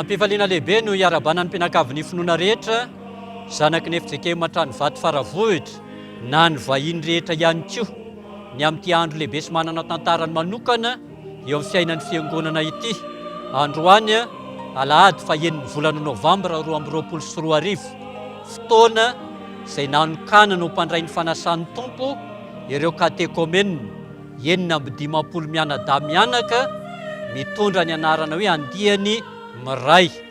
Am-pifaliana lehibe no iarabanan'ny mpianakavin'ny finoana rehetra, zanaky ny FJKM Antranovato Faravohitra, na ny vahiny rehetra ihany koa, ny amin'ity andro lehibe sy manana tantarany manokana, eo amin'ny fiainan'ny Fiangonana ity. Androany, alahady fahenin'ny volana novambra roa amby roapolo sy roa arivo, fotoana izay nanokanana ho mpandray ny fanasan'ny Tompo ireo katekomenina enina amby dimampolo mianadahy mianaka mitondra ny anarana hoe andiany miray.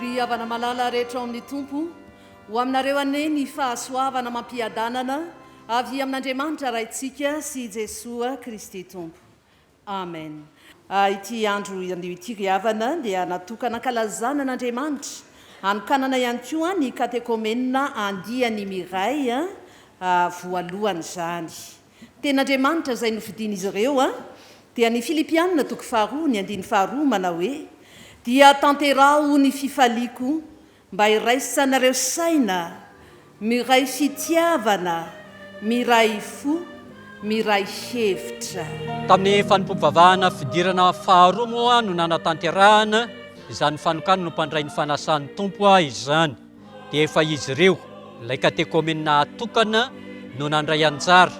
Ry havana malala rehetra ao amin'ny Tompo, ho aminareo anie ny fahasoavana amam-piadanana avy amin'Andriamanitra Raintsika sy Jesoa Kristy Tompo. Amen ah ity andro anio ity ry havana dia natokana ankalazana an'Andriamanitra, hanokanana ihany koa ny katekomenina andiany miray voalohany izany. Tenin'Andriamanitra izay nofidin'izy ireo an, dia ny Filipiana toko faharoa ny andiny faharoa manao hoe, Dia tanteraho ny fifaliako Mba hiraisanareo saina, miray fitiavana, miray fo, miray hevitra. Tamin'ny fanompoam-pivavahana fidirana faharoa moa no nanatanterahana izany fanokana nompandray ny fanasan'ny Tompo izany. Dia efa izy ireo, ilay katekomenina atokana no nandray anjara,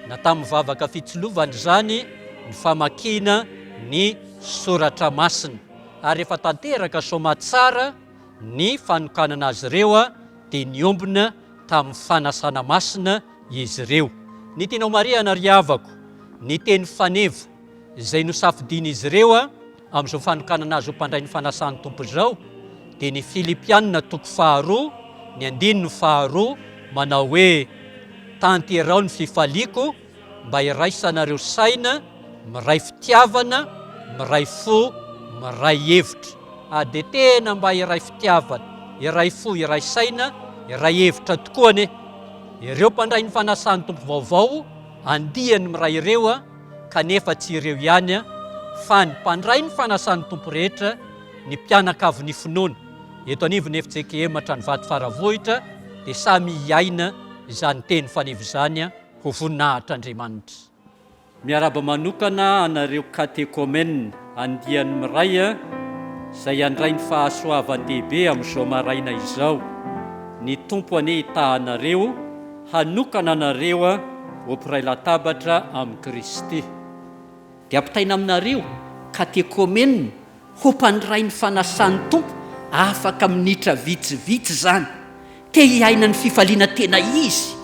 na tamin'ny vavaka fitsilovana izany, ny famakiana ny soratra masina. Ary efa tanteraka soamatsara. Ny fanokanana azy ireo dia niombona tamin'ny fanasana masina izy ireo. Ny tianao marihana ry havako, ny teny faneva izay nosafidian'izy ireo amin'izao fanokanana azy ho mpandray ny fanasan'ny Tompo izao dia ny Filipianina toko faharoa ny andininy faharoa manao hoe, Tanterao ny fifaliako, mba hiraisanareo saina miray fitiavana miray fo miray hevitra ah de tena mba hiray fitiavana hiray fo hiray saina hiray hevitra tokoa ane ireo mpandray ny fanasan'ny tompo vaovao andiany miray ireo a kanefa tsy ireo ihany a fa ny mpandray ny fanasan'ny tompo rehetra ny mpianakavy ny finoana eto anivon'ny efijekehematra ny vato faravohitra dia samy hiaina izany teny faneva izany a Ho voninahitr'Andriamanitra. Miarahaba manokana anareo Katekomenina andiany miray a, izay handray ny fahasoavan-dehibe amin'izao maraina izao. Ny Tompo anie hitaha anareo, hanokana anareo ho mpiray latabatra amin'i Kristy. Dia ampitaina aminareo Katekomenina Hompandray ny fanasan'ny Tompo afaka minitra vitsivitsy izany. Te hiaina ny fifaliana tena izy,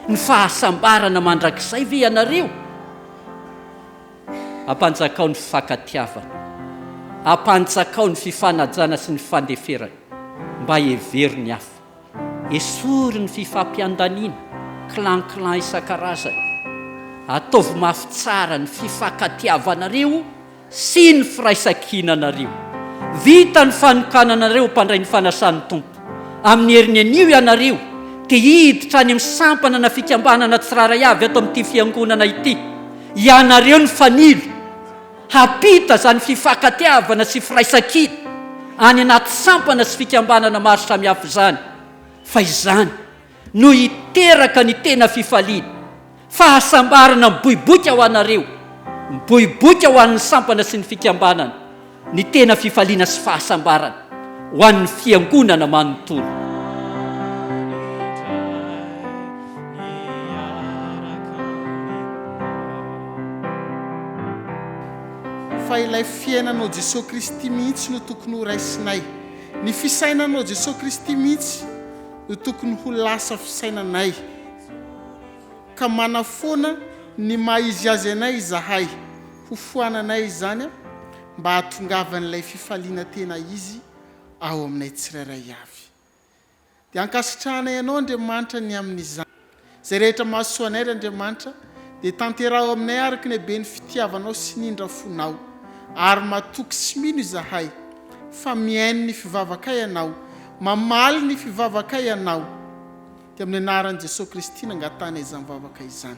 ny fahasambarana mandrakizay ve ianareo? Ampanjakao ny fifankatiavana. Ampanjakao ny fifanajana sy ny fandeferana mba hevero ny hafa. Esory ny fifampiandaniana, clan clan isan-karazany. Ataovy mafy tsara ny fifankatiavanareo sy ny firaisan-kinanareo. Vita ny fanokananareo mpandray ny fanasan'ny Tompo. Amin'ny heriny anio ianareo dia hiditra any amin'ny sampana na fikambanana tsirairay avy ato amin'ity fiangonana ity. Ianareo ny fanilo. Hampita izany fifankatiavana sy firaisankina any anaty sampana sy fikambanana maro samihafa izany, fa izany no hiteraka ny tena fifaliana, fahasambarana miboiboika ho anareo, miboiboika ho an'ny sampana sy ny fikambanana, ny tena fifaliana sy fahasambarana ho an'ny Fiangonana manontolo. Fa ilay fiainana ao Jesosy Kristy mihitsy no tokony ho raisinay. Ny fisainana ao Jesosy Kristy mihitsy no tokony ho lasa fisainanay ka manafoana ny maha izy azy anay izahay. Hofoananay izany mba hahatongavan'ilay fifaliana tena izy ao aminay tsirairay avy. Dia ankasitrahanay Anao, Andriamanitra, ny amin'izany. Izay rehetra mahasoa anay, ry Andriamanitra, dia tanteraho aminay araka ny haben'ny fitiavanao sy ny indra fonao. Ary matoky sy mino izahay, fa mihaino ny fivavakay Ianao, mamaly ny fivavakay Ianao. Dia amin'ny anaran'i Jesoa Kristy nangatahana izany vavaka izany.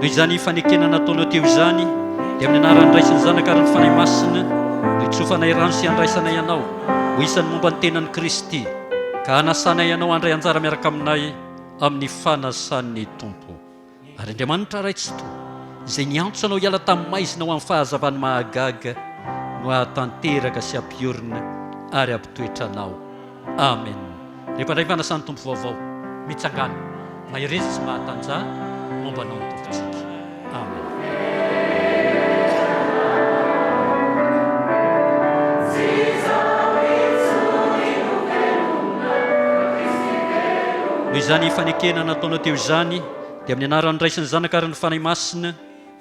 noho izany fanekena nataonao teo izany dia amin'ny anaran'ny andraisan'ny zanaka ary ny fanahy masina no itsofanay rano sy andraisanay ianao ho isan'ny momba ny tenan'i kristy ka hanasanay ianao handray anjara miaraka aminay amin'ny fanasan'ny tompo Ary Andriamanitra Ray Tsitoha, izay niantso anao hiala tamin'ny maizina ho amin'ny fahazavany mahagaga, no hahatanteraka sy hampiorina ary hampitoetra anao. Amen. Rehefa indray ny Fanasan'ny Tompo vaovao mitsangàna, mahereza sy mahatanjaha momba anao ny Tompontsika. Amen. Noho izany fanekena nataonao teo izany, dia amin'ny anaran'ny Ray sy ny Zanaka ary ny Fanahy Masina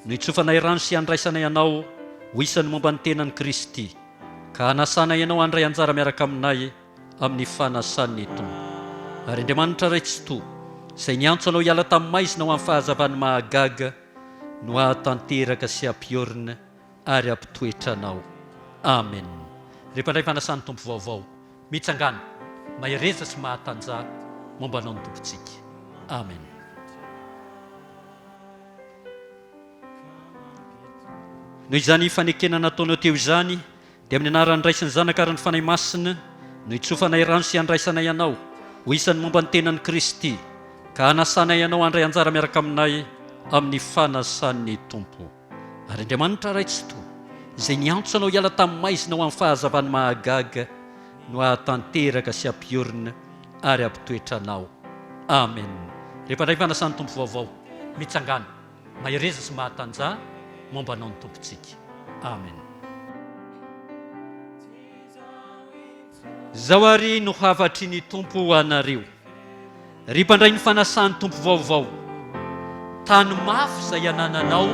no itsofanay rano sy handraisanay anao ho isan'ny momba ny tenan'i Kristy, ka hanasanay anao handray anjara miaraka aminay amin'ny fanasan'ny Tompo. Ary Andriamanitra Ray Tsitoha, izay niantso anao hiala tamin'ny maizina ho amin'ny fahazavan'ny mahagaga, no hahatanteraka sy hampiorina ary hampitoetra anao. Amen. Ry mpandray fanasan'ny Tompo vaovao, mitsangàna, mahereza sy mahatanja momba anao ny Tompontsika. Amen. Noho izany fanekena nataonao teo izany, Dia amin'ny anaran'ny Ray sy ny Zanaka ary ny Fanahy Masina no hitsofanay rano sy handraisanay anao ho isan'ny momba ny tenan'i Kristy, ka hanasanay anao handray anjara miaraka aminay amin'ny fanasan'ny Tompo. Ary Andriamanitra Ray Tsitoha, izay niantso anao hiala tamin'ny maizina ho amin'ny fahazavan'ny mahagaga, no hahatanteraka sy hampiorina ary hampitoetra anao. Amena. Rehefa handray ny fanasan'ny Tompo vaovao, mitsangàna. Mahereza sy mahatanjaha momba anao ny Tompontsika. Amen. Izao àry no hafatry ny Tompo ho anareo, ry mpandray ny fanasan'ny Tompo vaovao, Tano mafy izay anananao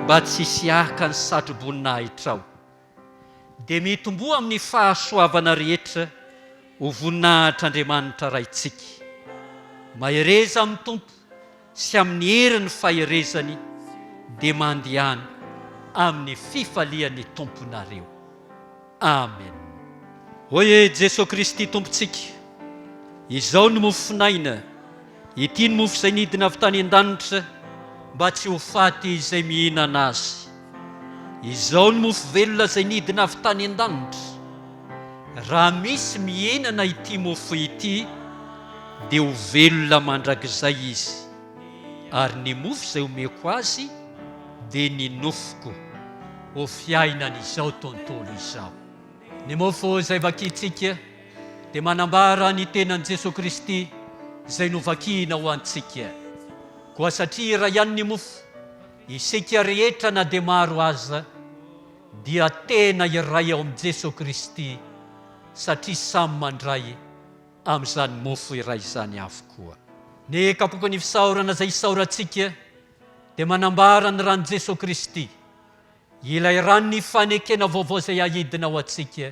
mba tsy hisy haka ny satro-boninahitrao, dia mitomboa amin'ny fahasoavana rehetra ho voninahitr'Andriamanitra Raintsika. Mahereza amin'ny Tompo sy amin'ny herin'ny faherezany, dia mandehana amin'ny fifalian'ny Tomponareo. Amen. Hoy Jesoa Kristy Tompontsika, Izao ny mofon'aina. Ity ny mofo izay nidina avy tany an-danitra mba tsy ho faty izay mihinana azy. Izao ny mofo velona izay nidina avy tany an-danitra. Raha misy mihinana ity mofo ity dia ho velona mandrakizay izy. Ary ny mofo izay omeko azy dia ny nofoko ho fiainan'izao tontolo izao. Ny mofo izay vakintsika. dia manambara ny tenan'i Jesoa Kristy izay novakina ho antsika. Koa satria iray ihany ny mofo, isika rehetra na dia maro aza dia tena iray ao amin'i Jesoa Kristy satria samy mandray amin'izany mofo iray izany avokoa. Ny kapoakan'ny fisaorana izay isaorantsika dia manambara ny ran'i Jesoa Kristy, ilay ran'ny fanekena vaovao izay ahidina ho antsika.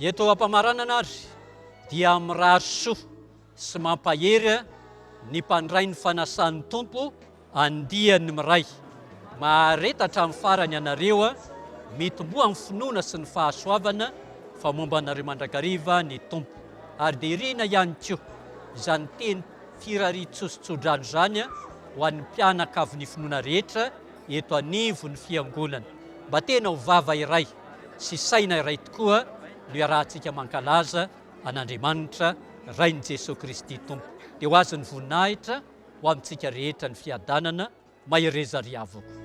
Eto am-pamaranana ary dia mirary soa sy mampahery ny mpandray ny fanasan'ny Tompo andiany miray. Mahareta hatramin'ny farany ianareo, mitomboa amin'ny finoana sy ny fahasoavana fa momba anareo mandrakariva ny Tompo. Ary dia irina ihany koa izany teny firarian-tsoa-sy tso-drano izany ho an'ny mpianakavin'ny finoana rehetra eto anivon'ny Fiangonana. Mba tena ho vava iray. sy saina iray tokoa no iarahantsika mankalaza an'Andriamanitra Rain'i Jesoa Kristy Tompo. Dia ho azon'ny voninahitra ho amintsika rehetra ny fiadanana, mahereza ry havoko.